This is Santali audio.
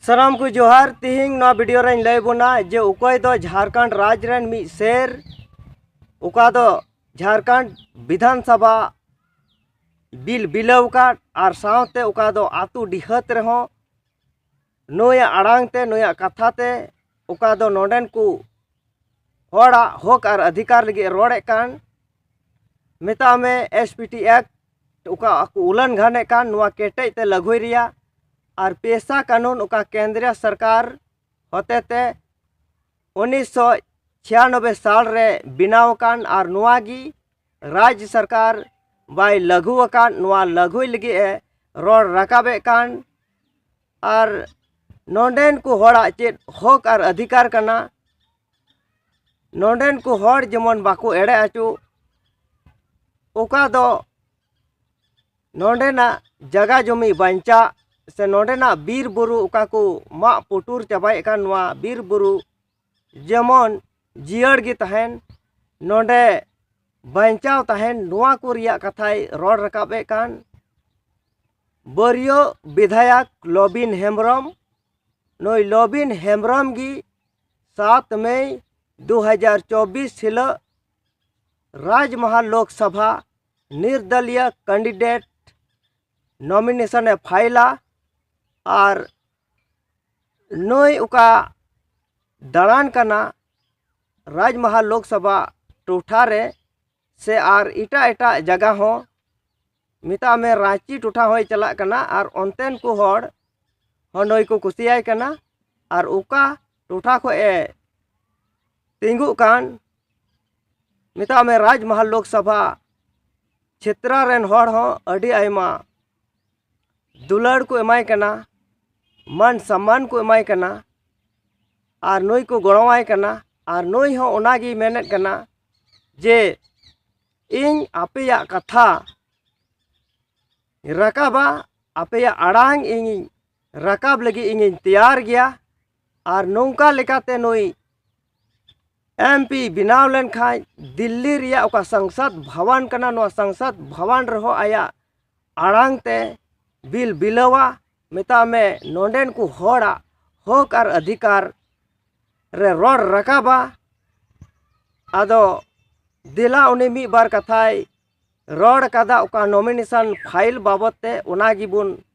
ᱥᱟᱱᱟᱢ ᱠᱚ ᱡᱚᱦᱟᱨ ᱛᱤᱦᱤᱧ ᱱᱚᱣᱟ ᱵᱷᱤᱰᱤᱭᱳ ᱨᱮᱧ ᱞᱟᱹᱭ ᱵᱚᱱᱟ ᱡᱮ ᱚᱠᱚᱭ ᱫᱚ ᱡᱷᱟᱲᱠᱷᱚᱸᱰ ᱨᱟᱡᱽ ᱨᱮᱱ ᱢᱤᱫ ᱥᱮᱨ ᱚᱠᱟ ᱫᱚ ᱡᱷᱟᱲᱠᱷᱚᱸᱰ ᱵᱤᱫᱷᱟᱱ ᱥᱚᱵᱷᱟ ᱵᱤᱞ ᱵᱤᱞᱟᱹᱣ ᱟᱠᱟᱫ ᱟᱨ ᱥᱟᱶᱛᱮ ᱚᱠᱟ ᱫᱚ ᱟᱛᱳ ᱰᱤᱦᱟᱹᱛ ᱨᱮᱦᱚᱸ ᱱᱩᱭᱟᱜ ᱟᱲᱟᱝ ᱛᱮ ᱱᱩᱭᱟᱜ ᱠᱟᱛᱷᱟ ᱛᱮ ᱚᱠᱟ ᱫᱚ ᱱᱚᱰᱮᱱ ᱠᱚ ᱦᱚᱲᱟᱜ ᱦᱚᱠ ᱟᱨ ᱟᱫᱷᱤᱠᱟᱨ ᱞᱟᱹᱜᱤᱫ ᱮ ᱨᱚᱲᱮᱫ ᱠᱟᱱ ᱢᱮᱛᱟᱜ ᱢᱮ ᱮᱥ ᱯᱤ ᱴᱤ ᱮᱠᱴ ᱚᱠᱟ ᱠᱚ ᱩᱞᱞᱚᱝᱜᱷᱚᱱᱮᱫ ᱠᱟᱱ ᱱᱚᱣᱟ ᱠᱮᱴᱮᱡ ᱛᱮ ᱞᱟᱹᱜᱩᱭ ᱨᱮᱭᱟᱜ ᱟᱨ ᱯᱮᱥᱟ ᱠᱟᱹᱱᱩᱱ ᱚᱠᱟ ᱠᱮᱱᱫᱨᱤᱭᱚ ᱥᱚᱨᱠᱟᱨ ᱦᱚᱛᱮ ᱛᱮ ᱩᱱᱤᱥᱥᱚ ᱪᱷᱤᱭᱟᱱᱚᱵᱵᱳᱭ ᱥᱟᱞ ᱨᱮ ᱵᱮᱱᱟᱣ ᱟᱠᱟᱱ ᱟᱨ ᱱᱚᱣᱟ ᱜᱮ ᱨᱟᱡᱽ ᱥᱚᱨᱠᱟᱨ ᱵᱟᱭ ᱞᱟᱹᱜᱩ ᱟᱠᱟᱫ ᱱᱚᱣᱟ ᱞᱟᱹᱜᱩᱭ ᱞᱟᱹᱜᱤᱫ ᱮ ᱨᱚᱲ ᱨᱟᱠᱟᱵᱮᱫ ᱠᱟᱱ ᱟᱨ ᱱᱚᱰᱮᱱ ᱠᱚ ᱦᱚᱲᱟᱜ ᱪᱮᱫ ᱦᱚᱸᱠ ᱟᱨ ᱚᱫᱷᱤᱠᱟᱨ ᱠᱟᱱᱟ ᱱᱚᱰᱮᱱ ᱠᱚ ᱦᱚᱲ ᱡᱮᱢᱚᱱ ᱵᱟᱠᱚ ᱮᱲᱮ ᱚᱪᱚᱜ ᱚᱠᱟ ᱫᱚ ᱱᱚᱰᱮᱱᱟᱜ ᱡᱟᱭᱜᱟ ᱡᱚᱢᱤ ᱵᱟᱧᱪᱟᱜ ᱥᱮ ᱱᱚᱰᱮᱱᱟᱜ ᱵᱤᱨ ᱵᱩᱨᱩ ᱚᱠᱟ ᱠᱚ ᱢᱟᱜ ᱯᱩᱴᱩᱨ ᱪᱟᱵᱟᱭᱮᱫ ᱠᱟᱱ ᱱᱚᱣᱟ ᱵᱤᱨ ᱵᱩᱨᱩ ᱡᱮᱢᱚᱱ ᱡᱤᱭᱟᱹᱲ ᱜᱮ ᱛᱟᱦᱮᱱ ᱱᱚᱰᱮ ᱵᱟᱧᱪᱟᱣ ᱛᱟᱦᱮᱱ ᱱᱚᱣᱟ ᱠᱚ ᱨᱮᱭᱟᱜ ᱠᱟᱛᱷᱟᱭ ᱨᱚᱲ ᱨᱟᱠᱟᱵ ᱮᱫ ᱠᱟᱱ ᱵᱟᱹᱨᱭᱟᱹ ᱵᱤᱫᱷᱟᱭᱚᱠ ᱞᱚᱵᱤᱱ ᱦᱮᱢᱵᱨᱚᱢ ᱱᱩᱭ ᱞᱚᱵᱤᱱ ᱦᱮᱢᱵᱨᱚᱢ ᱜᱮ ᱥᱟᱛ ᱢᱮ ᱫᱩ ᱦᱟᱡᱟᱨ ᱪᱚᱵᱵᱤᱥ ᱦᱤᱞᱳᱜ ᱨᱟᱡᱽᱢᱟᱦᱟ ᱞᱳᱠᱥᱚᱵᱷᱟ ᱱᱤᱨᱫᱚᱞᱤᱭᱚ ᱠᱮᱱᱰᱤᱰᱮᱴ ᱱᱚᱢᱤᱱᱮᱥᱚᱱᱮ ᱯᱷᱟᱭᱤᱞᱟ ᱟᱨ ᱱᱩᱭ ᱚᱠᱟ ᱫᱟᱬᱟᱱ ᱠᱟᱱᱟ ᱨᱟᱡᱽᱢᱟᱦᱟ ᱞᱳᱠ ᱥᱚᱵᱷᱟ ᱴᱚᱴᱷᱟ ᱨᱮ ᱥᱮ ᱟᱨ ᱮᱴᱟᱜ ᱮᱴᱟᱜ ᱡᱟᱭᱜᱟ ᱦᱚᱸ ᱢᱮᱛᱟᱜ ᱢᱮ ᱨᱟᱺᱪᱤ ᱴᱚᱴᱷᱟ ᱦᱚᱸᱭ ᱪᱟᱞᱟᱜ ᱠᱟᱱᱟ ᱟᱨ ᱚᱱᱛᱮᱱ ᱠᱚ ᱦᱚᱲ ᱦᱚᱸ ᱱᱩᱭ ᱠᱚ ᱠᱩᱥᱤᱭᱟᱭ ᱠᱟᱱᱟ ᱟᱨ ᱚᱠᱟ ᱴᱚᱴᱷᱟ ᱠᱷᱚᱱ ᱮ ᱛᱤᱸᱜᱩᱜ ᱠᱟᱱ ᱢᱮᱛᱟᱜ ᱢᱮ ᱨᱟᱡᱽᱢᱟᱦᱟ ᱞᱳᱠ ᱥᱚᱵᱷᱟ ᱪᱷᱮᱛᱨᱚ ᱨᱮᱱ ᱦᱚᱲ ᱦᱚᱸ ᱟᱹᱰᱤ ᱟᱭᱢᱟ ᱫᱩᱞᱟᱹᱲ ᱠᱚ ᱮᱢᱟᱭ ᱠᱟᱱᱟ ᱢᱟᱱ ᱥᱚᱱᱢᱟᱱ ᱠᱚ ᱮᱢᱟᱭ ᱠᱟᱱᱟ ᱟᱨ ᱱᱩᱭ ᱠᱚ ᱜᱚᱲᱚ ᱟᱭ ᱠᱟᱱᱟ ᱟᱨ ᱱᱩᱭ ᱦᱚᱸ ᱚᱱᱟ ᱜᱮᱭ ᱢᱮᱱᱮᱫ ᱠᱟᱱᱟ ᱡᱮ ᱤᱧ ᱟᱯᱮᱭᱟᱜ ᱠᱟᱛᱷᱟ ᱨᱟᱠᱟᱵᱟ ᱟᱯᱮᱭᱟᱜ ᱟᱲᱟᱝ ᱤᱧ ᱨᱟᱠᱟᱵ ᱞᱟᱹᱜᱤᱫ ᱤᱧᱤᱧ ᱛᱮᱭᱟᱨ ᱜᱮᱭᱟ ᱟᱨ ᱱᱚᱝᱠᱟ ᱞᱮᱠᱟᱛᱮ ᱱᱩᱭ ᱮᱢ ᱯᱤ ᱵᱮᱱᱟᱣ ᱞᱮᱱᱠᱷᱟᱱ ᱫᱤᱞᱞᱤ ᱨᱮᱭᱟᱜ ᱚᱠᱟ ᱥᱚᱝᱥᱚᱫᱽ ᱵᱷᱚᱵᱚᱱ ᱠᱟᱱᱟ ᱱᱚᱣᱟ ᱥᱚᱝᱥᱚᱫᱽ ᱵᱷᱚᱵᱚᱱ ᱨᱮᱦᱚᱸ ᱟᱭᱟᱜ ᱟᱲᱟᱝ ᱛᱮ ᱵᱤᱞ ᱵᱤᱞᱟᱹᱣᱟ ᱢᱮᱛᱟᱭ ᱢᱮ ᱱᱚᱰᱮᱱ ᱠᱚ ᱦᱚᱲᱟᱜ ᱦᱚᱸᱠ ᱟᱨ ᱚᱫᱷᱤᱠᱟᱨ ᱨᱮ ᱨᱚᱲ ᱨᱟᱠᱟᱵᱟ ᱟᱫᱚ ᱫᱮᱞᱟ ᱩᱱᱤ ᱢᱤᱫ ᱵᱟᱨ ᱠᱟᱛᱷᱟᱭ ᱨᱚᱲ ᱠᱟᱫᱟ ᱚᱠᱟ ᱱᱚᱢᱤᱱᱮᱥᱚᱱ ᱯᱷᱟᱭᱤᱞ ᱵᱟᱵᱚᱫ ᱛᱮ ᱚᱱᱟ ᱜᱮᱵᱚᱱ